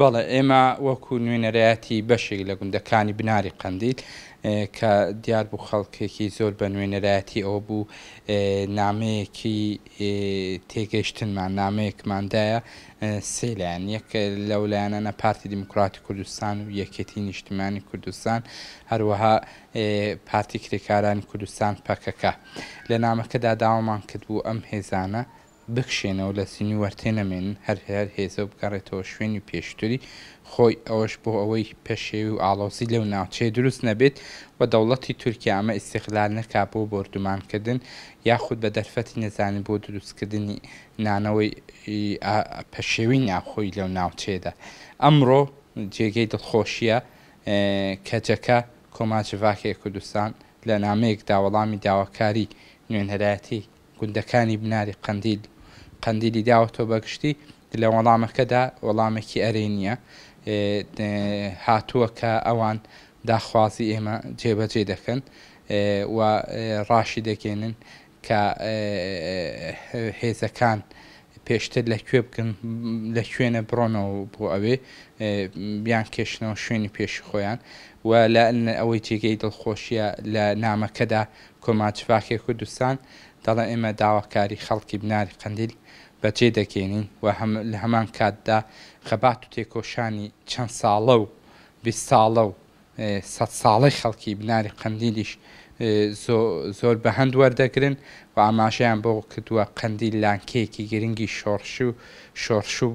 بەڵێ ئێمە وەکو نوێنەرایەتی بەشێک لە گوندەکانی بناری قەندیل کە دیار بوو خەڵکێکی زۆر بە نوێنەرایەتی ئەوە بوو نامەیەکی تێگەیشتنمان نامەیەکماندایە سێ لایەن، یەک لەو لایەنانە پارتی دیموکراتی کوردستان و یەکێتیی نیشتیمانی کوردستان، هەروەها پارتی کرێکارانی کوردستان، پەکەکە. لە نامەکەدا داوامان کردبوو ئەم هێزانە بکشێنە و لە سنوور تێنەمێنن، هەر هەر هێزە و بگەڕێتەوە شوێنی پێشتری خۆی، ئەوەش بۆ ئەوەی پەشێوی و ئاڵۆزی لەو ناوچەیە دروست نەبێت و دەوڵەتی تورکیا ئەمە ئیستیغلال نەکات بۆ بۆردومانکردن یاخود بە دەرفەتی نەزانی بۆ دروستکردنی نانەوەی ئا پەشێوی ناوخۆی لەو ناوچەیەدا ئەمڕۆ جێگەی دڵخۆشییە کەجەکە کۆما جڤاکێ کوردستان لە نامەیەکدا وەڵامی داواکاری نوێنەرایەتی گوندەکانی بناری قەندیل و قەندیلی داوەتەوە بەگشتی لە وەڵامەکەدا وەڵامێکی ئەرێنییە هاتووە کە ئەوان داخوازی ئێمە جێبەجێ دەکەن و ڕاشیدەگەیەنن کە هێزەکان پێشتر لە کوێ بگن لە کوێنە بڕۆنەوە بۆ ئەوێ بیان کێشنەوە شوێنی پێشی خۆیان و لە ئەوەی جێگەی دڵخۆشیە لە نامەکەدا کۆماچ فاکێ کوردستان دەڵێ ئێمە داواکاری خەڵکی بناری قەندیل بەجێ دەگەێنین و هەم لە هەمان کاتدا خەبات و تێکۆشانی چەند ساڵە و بیست ساڵە و سەد ساڵەی خەڵکی بناری قەندیلیش زۆر بەهەند وەردەگرن و ئاماژەیان بەوە کردووە، قەندیل لانکەیەکی گرنگی شۆڕش و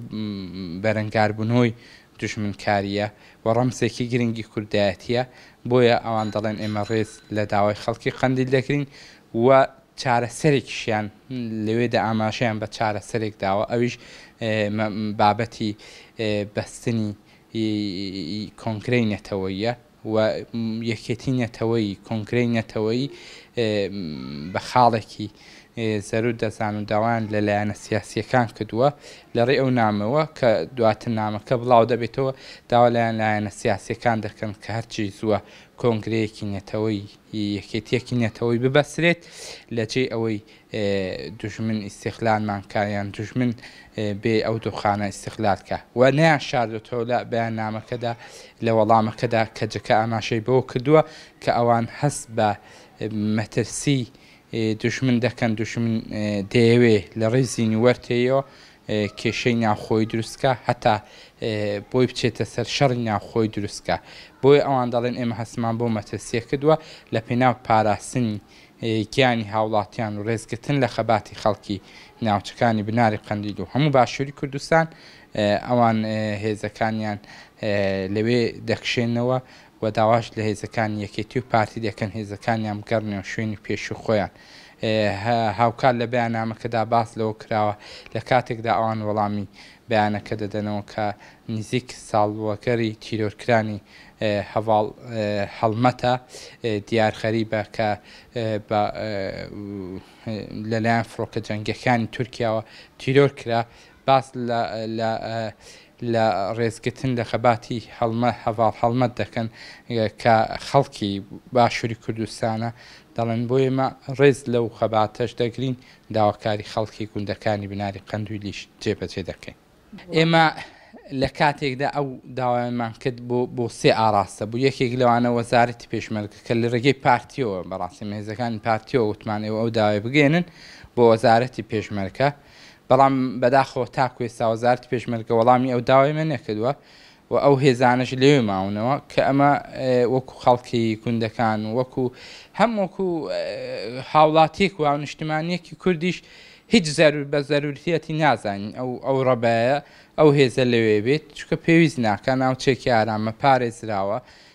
بەرەنگاربوونەوەی دوژمنکارییە و ڕەمزێکی گرنگی کوردایەتییە، بۆیە ئەوان دەڵێن ئێمە ڕێز لە داوای خەڵکی قەندیل دەگرین و چارەسەرێکیشیان لەوێدا ئاماژەیان بە چارەسەرێک داوە ئەویش بابەتی بەستنی ی کۆنگرەی نەتەوەییە و یەکێتی نەتەوەیی کۆنگرەی نەتەوەیی بە خاڵێکی زەروت دەزان و داوایان لە لایەنە سیاسییەکان کردووە لەڕێی ئەو نامەوە کە دواتر نامەکە بڵاو دەبێتەوە داوا لایەن لایەنە سیاسییەکان دەکەن کە هەرچی زووە کۆنگرەیەکی نەتەوەی یەکێتیەکی نەتەوەی ببەسرێت لە جێی ئەوەی دوژمن ئیستیغلالمان کا یان دوژمن بێی ئەو دۆخانە ئیستیغلال کا و نەیان شاردۆتەوە لە بەیاننامەکەدا لە وەڵامەکەدا کەجەکە ئاماژەی بەوە کردووە کە ئەوان هەست بە مەترسی دوژمن دەکەن دوژمن دەیەوێ لە ڕیزی نووەرتێیەوە کێشەی ناوخۆی دروست کا هەتا بۆی بچێتە سەر شەڕی ناوخۆی دروست کا بۆیە ئەوان دەڵێن ئێمە هەستمان بۆ مەترسییە کردووە لە پێناو پاراستنی گیانی هاوڵاتیان و ڕێزگرتن لە خەباتی خەڵکی ناوچەکانی بناری قەندیل و هەموو باشووری کوردستان، ئەوان هێزەکانیان لەوێ دەکشێنەوە و داواش لە هێزەکانی یەکێتی و پارتی دەکەن هێزەکانیان بگەڕنەوە شوێنی پێشووی خۆیان. هاوکات لە بەیاننامەکەدا باس لەوە کراوە، لە کاتێکدا ئەوان وەڵامی بەیانەکە دەدەنەوە کە نزیک ساڵوەگەری تیرۆرکرانی هەڤاڵ هەڵمەتە دیار غەریبە کە بە لەلایەن فڕۆکە جەنگیەکانی تورکیاوە تیرۆر کرا باس لە لە ڕێزگرتن لە خەباتی هەڵمە هەڤاڵ هەڵمەت دەکەن کە خەڵکی باشووری کوردستانە دەڵێن بۆ ئێمە ڕێز لەو خەباتەش دەگرین داواکاری خەڵکی گوندەکانی بناری قەندویلیش جێبەجێ دەکەین. ئێمە لە کاتێکدا ئەو داوایانمان کرد بۆ بۆ سێ ئاراستە بوو، یەکێک لەوانە وەزارەتی پێشمەرگە کە لە رێگەی پارتیەوە بەڕاستیم هێزەکانی پارتیەوە وتمان ئێوە ئەو داوای بگەێنن بۆ وەزارەتی پێشمەرکە بەڵام بەداخەوە تاکو ئێستا وەزارەتی پێشمەرگە وەڵامی ئەو داوای من نەکردووە و ئەو هێزانەش لەوێ ماونەوە کە ئەمە وەکو خەڵکی کوندەکان و وەکو هەم وەکو هاوڵاتیەک و هاونشتمانیەکی کوردیش هیچ زەرور بە زەرورتیەتی نازانین ئەو ئەو ڕەبایە ئەو هێزە لەوێ بێت چکە پێویست ناکە ناوچێکی ئارامە پارێزراوە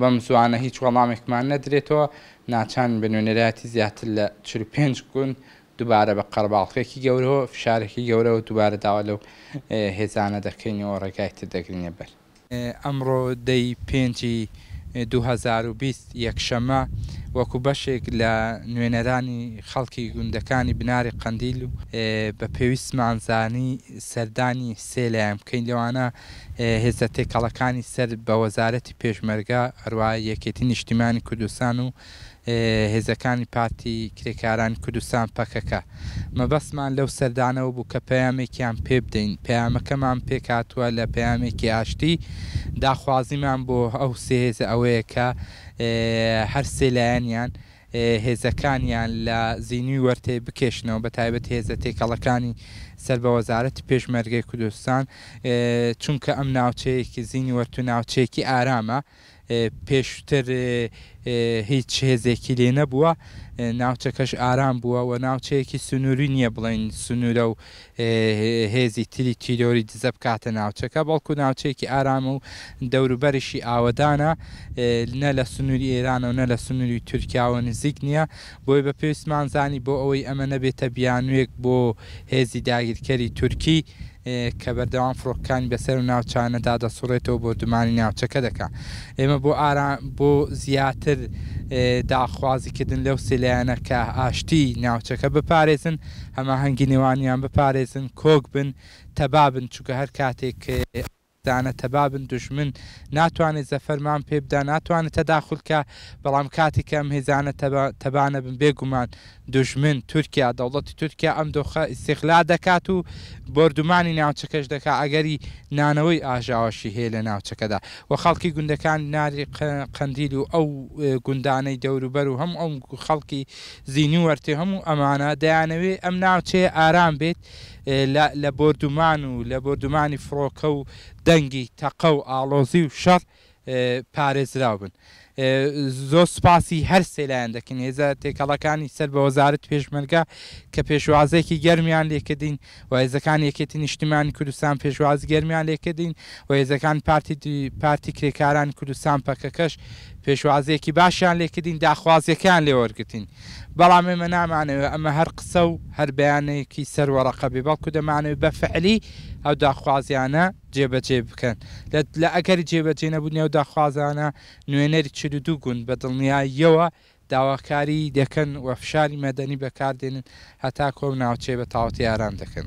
بەم زووانە هیچ وەڵامێکمان نەدرێتەوە، ناچارین بە نوێنەرایەتی زیاتر لە چل و پێنج گوند دووبارە بە قەرەباڵخێکی گەورەو فشارێکی گەورەوە دووبارە داوا لەو هێزانە دەکەین و ڕێگای تر دەگرینە بەر. ئەمڕۆ دە ی پێنجی دوو هەزار و بیست یەکشەممە، وەکو بەشێک لە نوێنەرانی خەڵکی گوندەکانی بناری قەندیل و بە پێویستمان زانی سەردانی سێ لایەن بکەین لەوانە، هێزە تێکەڵەکانی سەر بە وەزارەتی پێشمەرگە، هەروا یەکێتی نیشتیمانی کوردستان و هێزەکانی پارتی کرێکارانی کوردستان، پەکەکە. مەبەستمان لەو سەردانەوە بوو کە پەیامێکیان پێ بدەین. پەیامەکەمان پێکهاتووە لە پەیامێکی ئاشتی. داخوازیمان بۆ ئەو سێ هێزە ئەوەیە کە هەر سێ لایەنیان، هێزەکانیان لە زینوی وەرتەی بکێشنەوە بە تایبەت هێزە تێکەڵەکانی سەر بە وەزارەتی پێشمەرگەی کوردستان چونکە ئەم ناوچەیەکی زینی وەرتو ناوچەیەکی ئارامە پێشتر هیچ هێزێکی لێ نەبووە ناوچەکەش ئارام بووە و ناوچەیەکی سنووری نییە بڵین سنوورە و هێزی تری تیرۆری دزە بکاتە ناوچەکە، بەڵکو ناوچەیەکی ئارامە و دەوروبەریشی ئاوەدانە، نە لە سنووری ئێرانە و نە لە سنووری تورکیاوە نزیک نییە، بۆیە بە پێویستمان زانی بۆ ئەوەی ئەمە نەبێتە بیانوویەک بۆ هێزی داگیرکەری تورکی کە بەردەوام فڕۆکەکانی بەسەر ئەو ناوچانەدا دەسوڕێتەوە و بۆردومانی ناوچەکە دەکا. ئێمە بۆ ئارام بۆ زیاتر داخوازیکردن لەو سێ لایەنە کە ئاشتیی ناوچەکە بپارێزن، هەماهەنگی نێوانیان بپارێزن کۆک بن تەبا بن چونکە هەر کاتێک ئەو هێزانە تەبا بن دوژمن ناتوانێت زەفەرمان پێ بدا ناتوانێت تەداخول کا بەڵام کاتێک کە ئەم هێزانە تەبا تەبا نەبن بێ گومان دوژمن تورکیا دەوڵەتی تورکیا ئەم دۆخە ئیستیغلال دەکات و بۆردومانی ناوچەکەش دەکا ئەگەری نانەوەی ئاژاوەشی هەیە لە ناوچەکەدا و خەڵکی گوندەکانی ناری قەندیل و ئەو گوندانەی دەوروبەر و هەموو ئەو خەڵکی زینی وەرتێ هەموو ئەمانە دەیانەوێت ئەم ناوچەیە ئارام بێت لە لە بۆردومان و لە بۆردومانی فڕۆکە و دەنگی تەقە و ئاڵۆزی و شەڕ پارێزراو بن. زۆر سوپاسی هەر سێ لایەن دەکەین، هێزە تێکەڵەکانی سەر بە وەزارەتی پێشمەرگە کە پێشوازییەکی گەرمیان لێکردین، و هێزەکانی یەکێتی نیشتیمانی کوردستان پێشوازی گەرمیان لێکردین و هێزەکانی پارتی پارتی کرێکارانی کوردستان پەکەکەش پێشوازیەکی باشیان لێکردین داخوازیەکەیان لێ وەرگرتین بەڵام ئێمە نامانەوێت ئەمە هەر قسە و هەر بەیانێکی سەر وەڕەقە بێ بەڵکو دەمانەوێت بە فعلی ئەو داخوازیانە جێبەجێ بکەن لە لە ئەگەری جێبەجێ نەبوونی ئەو داخوازانە نوێنەری چل و دوو گوند بە دڵنیاییەوە داواکاریی دەکەن و فشاری مەدەنی بەکاردێنن هەتا کۆ و ناوچەی بە تاوەتی ئارام دەکەن.